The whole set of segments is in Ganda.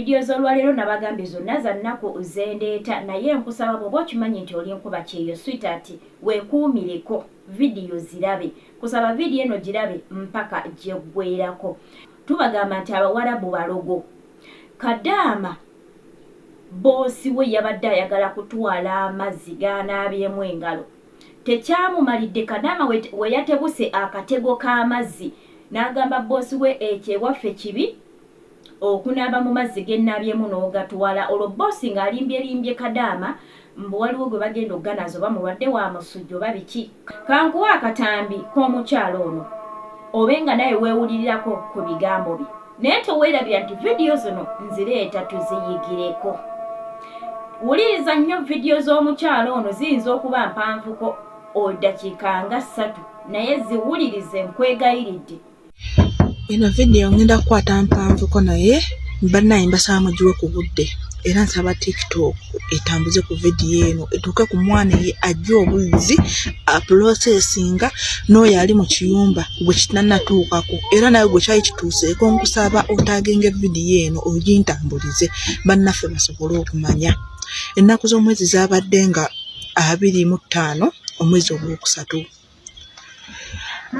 Video zolwaleero nabagambye zonna za nnaku zendeeta naye nkusaba bwoba okimanyi nti oli nkuba kyeyo sweetheart wekuumireko video zirabe kusaba video eno girabe mpaka gyeggweerako tubagamba nti abawarabu balogo kadaama boosi we yabadde ayagala kutwala amazzi ganaabyemu engalo tekyamumalidde kadaama weyatebuse akatego k'amazzi n'agamba boosi we ekyo ewaffe kibi Okunaaba mu mazzi gennabyemu n'ogatwala olwo boss nga alimbyelimbye kadaama mbu waliwo gwe bagenda okuganaaza oba mulwadde wa musujja oba biki. Kankuwe akatambi k'omukyala ono obe nga nawe wewulilirako ku bigambo bye naye tewelabira nti video zino nzileeta tuziyigireko. Wuliriza nnyo video z'omukyala ono ziyinza okuba mpanvuko odakiika nga ssatu naye ziwulirize nkwegayiridde. eno vidiyo ngenda kukwata mpanvuko naye banaye mbasaba mugiwe ku budde era nsaba tiktok etambuze ku vidiyo eno etuuke ku mwana eye ajja obuzzi apulosesinga n'oyo ali mu kiyumba gwe kitanatuukako era nawe gwe kyali kituuseeko nkusaba otagenga vidiyo eno ogintambulize bannaffe basobole okumanya ennaku z'omwezi zabadde nga abiri mu ttaano omwezi ogwokusatu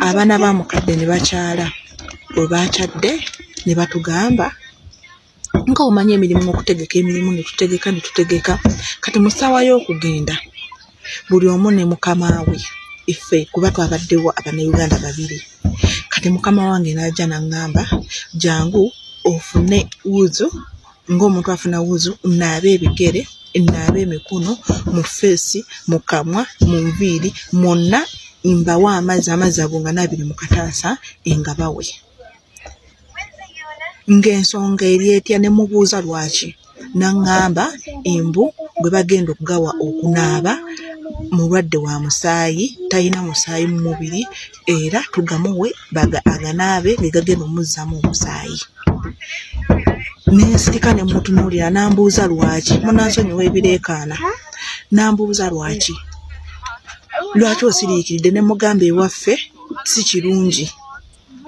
abaana ba mukadde ne bakyala bwe baakyadde ne batugamba nga omanyi emirimu okutegeka emirimu ne tutegeka ne tutegeka kati mu ssaawa y'okugenda buli omu ne mukama we iffe kuba twabaddewo abanauganda babiri kati mukama wange n'ajja n'aŋŋamba jangu ofune wuzu ng'omuntu afuna wuzu naabe ebigere naabe emikono mu feesi mu kamwa mu nviiri mwonna mbawa amazzi amazzi ago nga naabiri mu kataasa nga bawe ng'ensonga eri etya ne mubuuza lwaki naŋŋamba embu gwe bagenda okugawa okunaaba mulwadde wa musaayi talina musaayi mu mubiri era tugamuwe baga aganaabe ge gagenda omuzzaamu omusaayi nensirika ne mutunuulira n'ambuuza lwaki munansonyiwa ebireekaana n'ambuuza lwaki lwaki osiriikiridde ne mugamba ewaffe si kirungi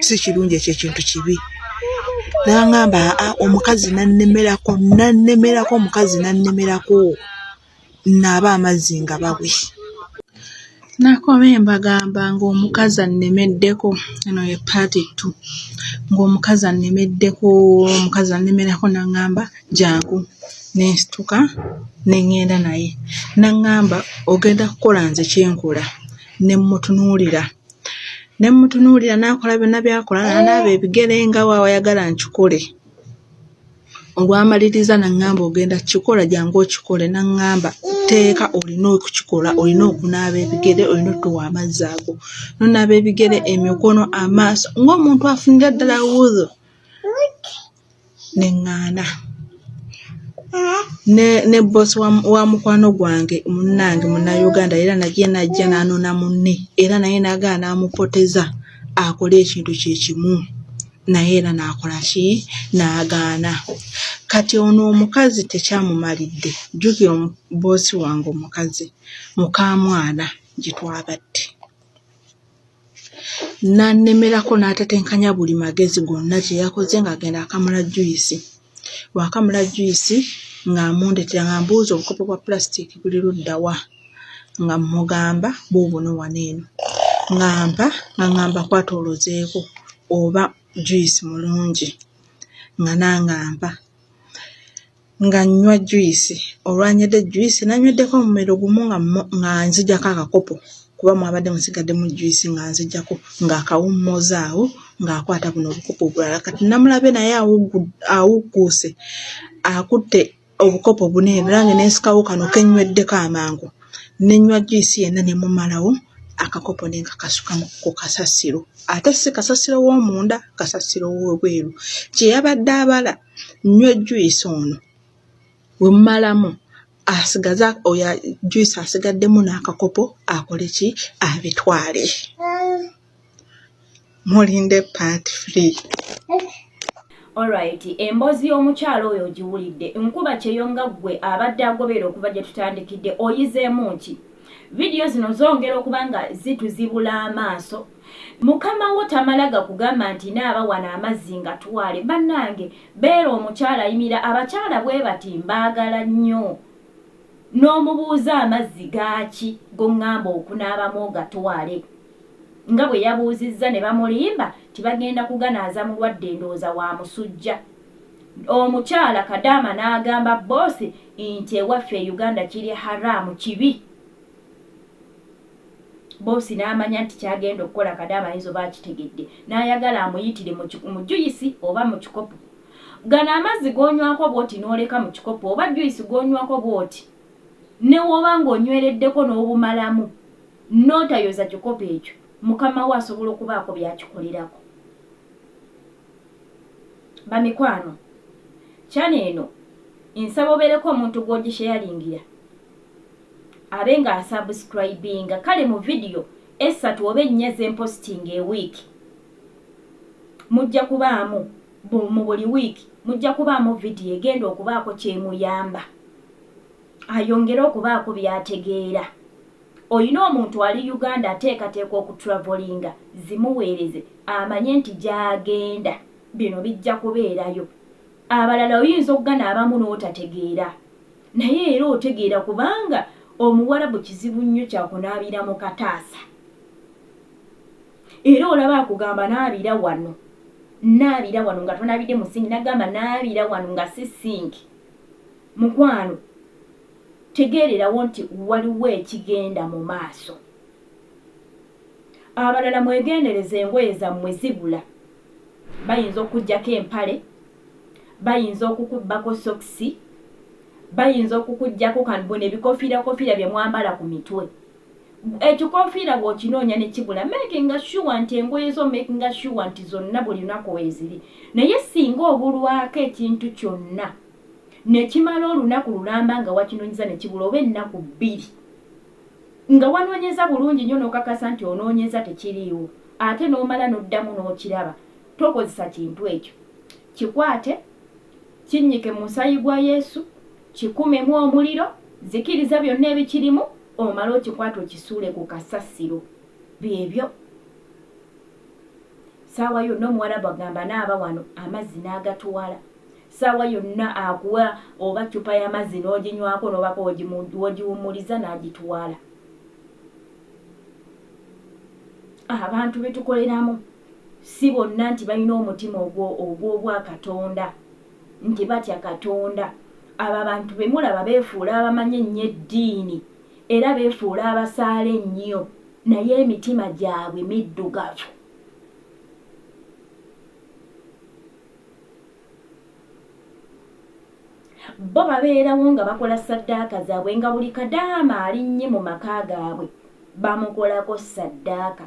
si kirungi ekyo ekintu kibi nangamba omukazi nannemerako nannemerako omukazi nannemerako nnaabe amazzi nga bawe. Nakomye mbagamba ng'omukazi annemeddeko, eno ye part two, ng'omukazi annemeddeko, omukazi annemerako n'aŋŋamba jangu ne nsituka ne ŋŋenda naye. N'aŋŋamba ogenda kukola nze kye nkola, ne mmutunuulira. Ne mmutunuulira n'akola byonna by'akola, n'anaaba ebigere nga bw'ayagala nkikole. olwamaliriza naŋŋamba ogenda kukikola jangu okikole naŋŋamba tteeka olina okukikola olina okunaaba ebigere olina otuwa amazzi ago nonaaba ebigere emikono amaaso ng'omuntu afunira ddala wudhu neŋŋaana ne bosi wa mukwano gwange munnange munnayuganda era naye najja n'anona munne era naye nagala n'amupoteza akole ekintu kye kimu naye era n'akola ki n'agaana kati ono omukazi tekyamumalidde jjukira boosi wange omukazi mukaamwana gye twabadde n'annemerako n'atatenkanya buli magezi gonna kye yakoze ng'agenda akamula juyisi Waakamula juyisi ng'amundetera ng'ambuuza obukopo bwa pulasitiiki buli ludda wa nga mmugamba buubuno wano eno ng'ampa ng'aŋŋamba kwata olozeeko oba juyisi mulungi nga nange ampa nga nnywa juyisi olwanywedde juyisi nanyweddeko omumiro gumu nga nzijako akakopo. kuba mwabadde musigadde mu juyisi nga nzijjako ng'akawummooza awo ng'akwata buno obukopo obulala kati namulabe naye awugguuse akutte obukopo buna ebirange n'ensikawo kano kennyweddeko amangu nenywa juyisi yenna ne mumalawo akakopo ne nkakasuka ku kasasiro ate si kasasiro w'omunda kasasiro w'obweru kye yabadde abala nnywa ejjuyisi ono wemumalamu asigaza oyo juice asigaddemu n'akakopo akole ki abitwale mulinde part free Alright, emboozi y'omukyalo oyo ogiwulidde nkuba kyeyo nga ggwe abadde agobeera okuva gye tutandikidde oyizeemu ki vidiyo zino zongera okuba nga zituzibula amaaso Mukama wo tamala gakugamba nti naaba wano amazzi ngatwale banange beera omukyala ayimira abakyala bwebati mbagala nyoo nomubuuza amazzi gaaki gongamba okunaabamu ogatwale nga bweyabuuzizza nebamulimba nti bagenda kuganaaza mulwadde ndooza wa musujja omukyala kadaama naagamba boss nti ewaffe e uganda kiri haramu kibi Bboosi n'amanya nti ky'agenda okukola Kadaama ayinza oba akitegedde n'ayagala amuyitire mu ki, mu juyisi oba mu kikopo. Gano amazzi g'onywako bw'oti n'oleka mu kikopo oba juyisi gw'onywako bw'oti ne w'oba ng'onywereddeko n'obumalamu n'otayoza kikopo ekyo, mukama wo asobola okubaako by'akikolerako. Bamikwano, channel eno nsaba obeereko omuntu gw'ogisheyalingira abe nga asubscribinga kale mu video essatu oba ennya zempositinga e week mujja kubaamu mu buli week mujja kubaamu video egenda okubaako kyemuyamba ayongere okubaako byategeera olina omuntu ali uganda ateekateeka okutravolinga zimuweereze amanye nti gyagenda bino bijja kubeerayo abalala oyinza okugana abamu n'otategeera Naye era otegeera kubanga omuwarabu kizibu nnyo kyakunaabira mu kataasa era olaba akugamba naabira wano naabira wano nga tonaabidde mu sinki nagamba naabira wano nga si sinki mukwano tegeererawo nti waliwo ekigenda mu maaso abalala mwegendereza engoye zammwe zibula bayinza okujjako empale bayinza okukubbako sokisi, bayinza okukuggyako kan buno ebikoofiirakofiira bye mwambala ku mitwe. Ekikoofiira bw'okinoonya ne kibula meekinga shuwa nti engoye zo omeekinga shuwa nti zonna buli lunaku weeziri. Naye ssinga obulwako ekintu kyonna ne kimala olunaku lulamba nga wakinoonyeza ne kibula oba ennaku bbiri nga wanoonyeza bulungi nnyo n'okakasa nti onoonyeza tekiriiwo ate n'omala n'oddamu n'okiraba, Tokozesa kintu ekyo. Kikwate, kinnyike mu Musaayi gwa Yesu, kikumemu omuliro, zikiriza byonna ebikirimu, omale okikwate okisuule ku kasasiro. Byebyo. Ssaawa yonna Omuwarabu agamba naaba wano, amazzi n'agatwala. Ssaawa yonna akuwa oba ccupa y'amazzi n'oginywako n'obako w'ogiwummuliza n'agitwala. Abantu be tukoleramu. Si bonna nti balina omutima ogwo ogw'obwakatonda, nti batya Katonda. Abo abantu be mulaba beefuula abamanyi ennyo eddiini, era beefuula abasaala ennyo, naye emitima gyabwe middugavu. Bo babeerawo nga bakola ssaddaaka zaabwe, nga buli kadaama alinnye mu maka gaabwe bamukolako ssaddaaka.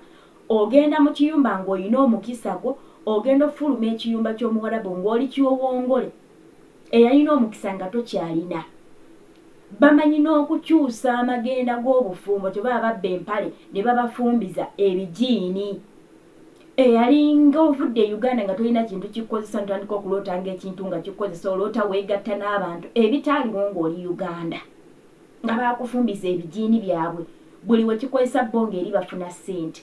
Ogenda mu kiyumba ng'olina omukisa gwo, ogenda ofuluma ekiyumba ky'omuwarabu ng'oli kiwowongole, eyalina omukisa nga tokyalina. Bamanyi n'okukyusa amagenda g'obufumbo kyebaba babba empale ne babafumbiza ebijiini. Eyalinga ovudde e Uganda nga tolina kintu kikukozesa n'otandika okuloota ng'ekintu nga kikukozesa, oloota weegatta n'abantu ebitaaliwo ng'oli Uganda. nga baakufumbiza ebijiini byabwe buli we kikozesa bo ng'eri bafuna ssente.